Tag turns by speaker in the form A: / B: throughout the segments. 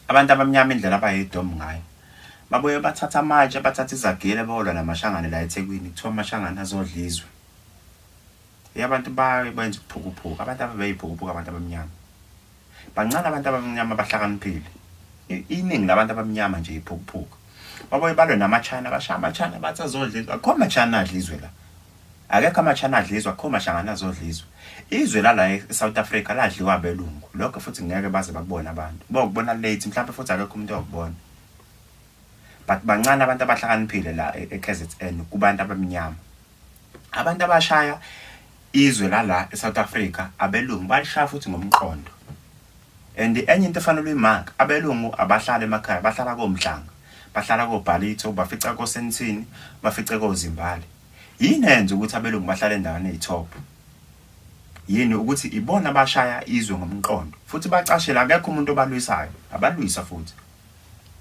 A: abantu abamnyama indlela abayidom ngayo babuye bathatha amatshe bathatha izagile bolwa namashangane la ethekwini kuthiwa amashangane azodla izwe abantu baye benza ukuphukuphuka abantu ababeyiphukuphuka abantu abamnyama bancane abantu abamnyama abahlakaniphile iningi labantu abamnyama nje iphukuphuka babuye balwe namachina bashaya amachina bathi azodla izwe akho machina adla izwe la Akekho amaChina adlizwa akho mashangane azodlizwa. Izwe lala eSouth Africa ladliwa abelungu. Lokho futhi ngeke baze bakubone abantu. Bokubona late mhlawumbe futhi akekho umuntu okubona. But bancane abantu abahlakaniphile la e-, eKZN kubantu abamnyama. Abantu abashaya izwe lala eSouth Africa abelungu balishaya futhi ngomqondo. And enye into efanele uyimark abelungu abahlale emakhaya bahlala komhlanga. Bahlala kobhalitho bafica kosenthini bafice kozimbali. Yini eyenza ukuthi abelungu bahlale endaweni eyi-top? Yini ukuthi ibona abashaya izwe ngomqondo futhi bacashele akekho umuntu obalwisayo, abalwisa futhi.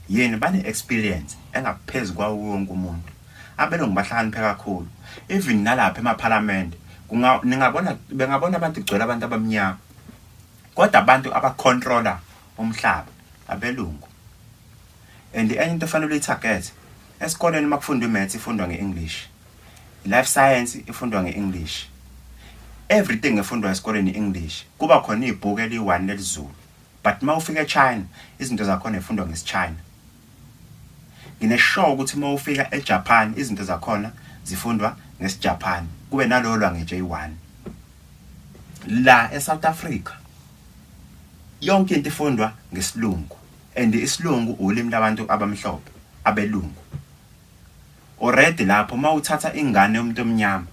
A: Yini bane-experience engaphezu kwawo wonke umuntu. Abelungu bahlakaniphe kakhulu. Even nalapha emaphalamende ningabona bengabona abantu kugcwele abantu abamnyama. Kodwa abantu abacontrola umhlaba abelungu. And enye into efanele uyitarget esikoleni makufundwa imaths ifundwa ngeEnglish. Life science ifundwa ngeEnglish. Everything efundwa esikoleni iEnglish. Kuba khona ibhuku eliyi-1 lelizulu. But mawufika eChina izinto zakhona ifundwa ngesiChina. Ngineshow ukuthi mawufika eJapan izinto zakhona zifundwa ngesiJapan. Kube nalolwa ngeJ1. La eSouth Africa Yonke into ifundwa ngesilungu and isilungu ulimi labantu abamhlophe abelungu. Already lapho mawuthatha ingane yomuntu omnyama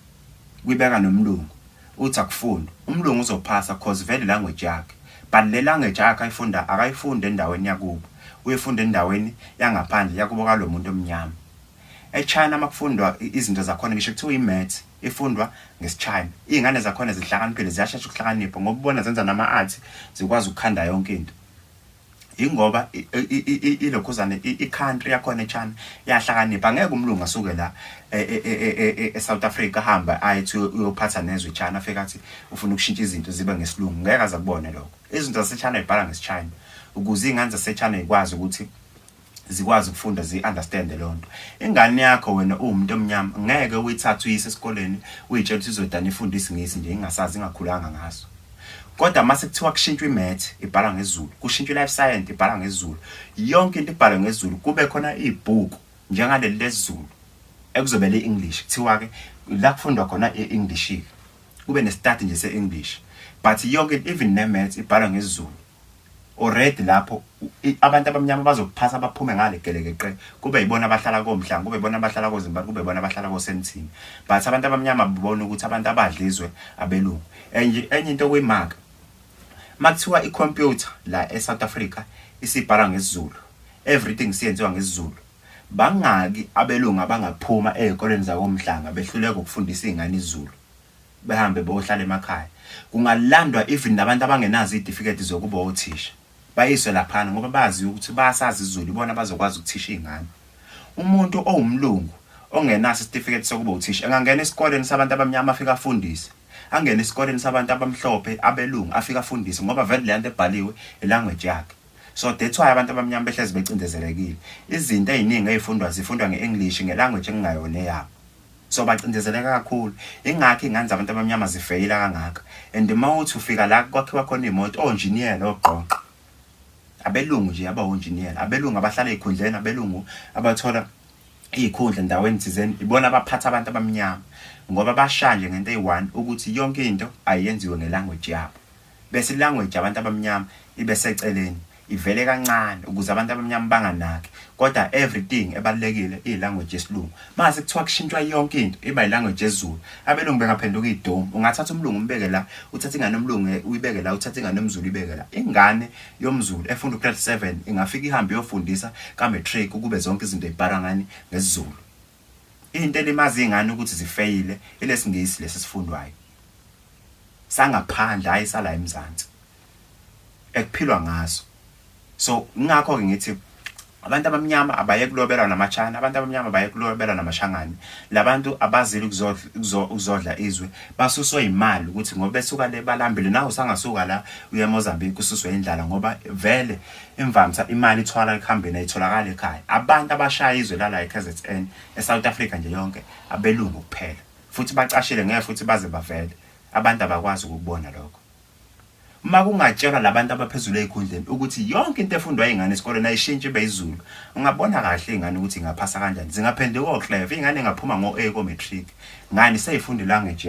A: kuyibeka nomlungu uthi akufundwa. Umlungu uzophasa cause vele language yakhe. But le language yakhe ayifunda akayifunde endaweni yakubo. Uyifunda endaweni yangaphandle yakubo kalomuntu omnyama. EChina makufundwa izinto zakhona ngisho kuthiwa iMaths ifundwa ngesiChina. Izingane zakhona zihlakaniphile ziyashesha ukuhlakanipha ngoba ubona zenza nama-arts zikwazi ukukhanda yonke into. Ingoba ilokhuzane i-country yakhona eChina yahlakanipha ngeke umlungu asuke la e, e, e, eSouth Africa hamba ayithi uyophatha nezwe iChina afike athi ufuna ukushintsha izinto zibe ngesilungu ngeke aze kubone lokho. Izinto zaseChina ibhala ngesiChina ukuze izingane zaseChina ikwazi ukuthi zikwazi ukufunda zi-understand leyo nto ingane yakho wena uwumuntu omnyama ngeke uyithathe uyise esikoleni uyitshela ukuthi izodana ifunde isingisi nje ingasazi ingakhulanga ngaso kodwa uma sekuthiwa kushintshwa imath ibhalwa ngezulu kushintshwa i-life science ibhalwa ngezulu yonke into ibhalwe ngezulu kube khona ibhuku njengaleli lezulu ekuzobe le-english kuthiwa-ke la kufundwa khona i-english-ke kube ne-study nje se-english but yonke even ne-math ibhalwa ngezulu ured lapho abantu abamnyama bazokuphasa baphume ngale gelekeqe kube yibona abahlala komhlanga kube yibona abahlala kozimbali kube yibona abahlala kosemthini but abantu abamnyama bibona ukuthi abantu abadlizwe abelungu enye enye into kuyimaka makuthiwa ikhompyutha la eSouth Africa isibhala ngesizulu everything siyenziwa ngesizulu bangaki abelungu abangaphuma ezikoleni zakomhlanga behluleka ukufundisa izingane izulu behambe beyohlala emakhaya kungalandwa even nabantu abangenazo iy'tifiketi zokuba othisha bayiswe laphana ngoba bazi ukuthi basazi izulu ibona bazokwazi ukuthisha iy'ngane umuntu owumlungu ongenaso isitifiketi sokuba uthisha engangena esikoleni sabantu abamnyama afike afundise angene esikoleni sabantu abamhlophe abelungu afike afundise ngoba vele le nto ebhaliwe ilanguage yakhe so that's why abantu abamnyama behlezi becindezelekile izinto ey'ningi ey'fundwa zifundwa nge-english ngelanguage engingayona eyabo so bacindezeleka kakhulu ingakho ingane zabantu abamnyama zifeyila kangaka and uma uthi ufika la kwakhiwa khona iy'moto onjiniyela ogqoqa abelungu nje abawonjiniyela abelungu abahlala ey'khundleni abelungu abathola iy'khundla endaweni thizeni ibona abaphatha abantu abamnyama ngoba bashanje ngento eyi-one ukuthi yonke into ayenziwe ngelanguage yabo bese ilanguage yabantu abamnyama ibe seceleni ivele kancane ukuze abantu abamnyama banganaki kodwa everything ebalekile ilanguage yesilungu mase kuthiwa kushintshwa yonke into iba ilanguage yezulu abelungu bengaphenduka idom ungathatha umlungu umbeke la uthatha ingane omlungu eh, uyibeke la uthatha ingane omzulu ibeke la ingane yomzulu efunda grade 7 ingafika ihambe yofundisa ka matric ukube zonke izinto ibhara ngani ngesizulu Into elimazi ingane ukuthi zifeyile ilesingisi lesi sifundwayo. Sangaphandle hayi sala eMzansi. Ekuphilwa ngaso. So ngakho ke ngithi abantu abamnyama abaye kulobelwa namachina abantu abamnyama abaye kulobelwa namashangane labantu abazile ukuzodla izwe basuswe imali ukuthi ngoba besuka le balambile nawe usangasuka la uye eMozambique ususwe indlala ngoba vele Imvamsa imali ithwala ekuhambeni ayitholakali ekhaya. Abantu abashaya izwe lala eKZN, eSouth Africa nje yonke, abelungu kuphela. Futhi bacashile ngeke futhi baze bavele. Abantu abakwazi ukukubona lokho. Uma kungatshelwa labantu abaphezulu ezikhundleni ukuthi yonke into efundwa izingane esikoleni ayishintshe ibe izulu, ungabona kahle izingane ukuthi ingaphasa kanjani. Zingaphenduka okleva, izingane ingaphuma ngo-A ko-matric. Ngani seyifunda ilanguage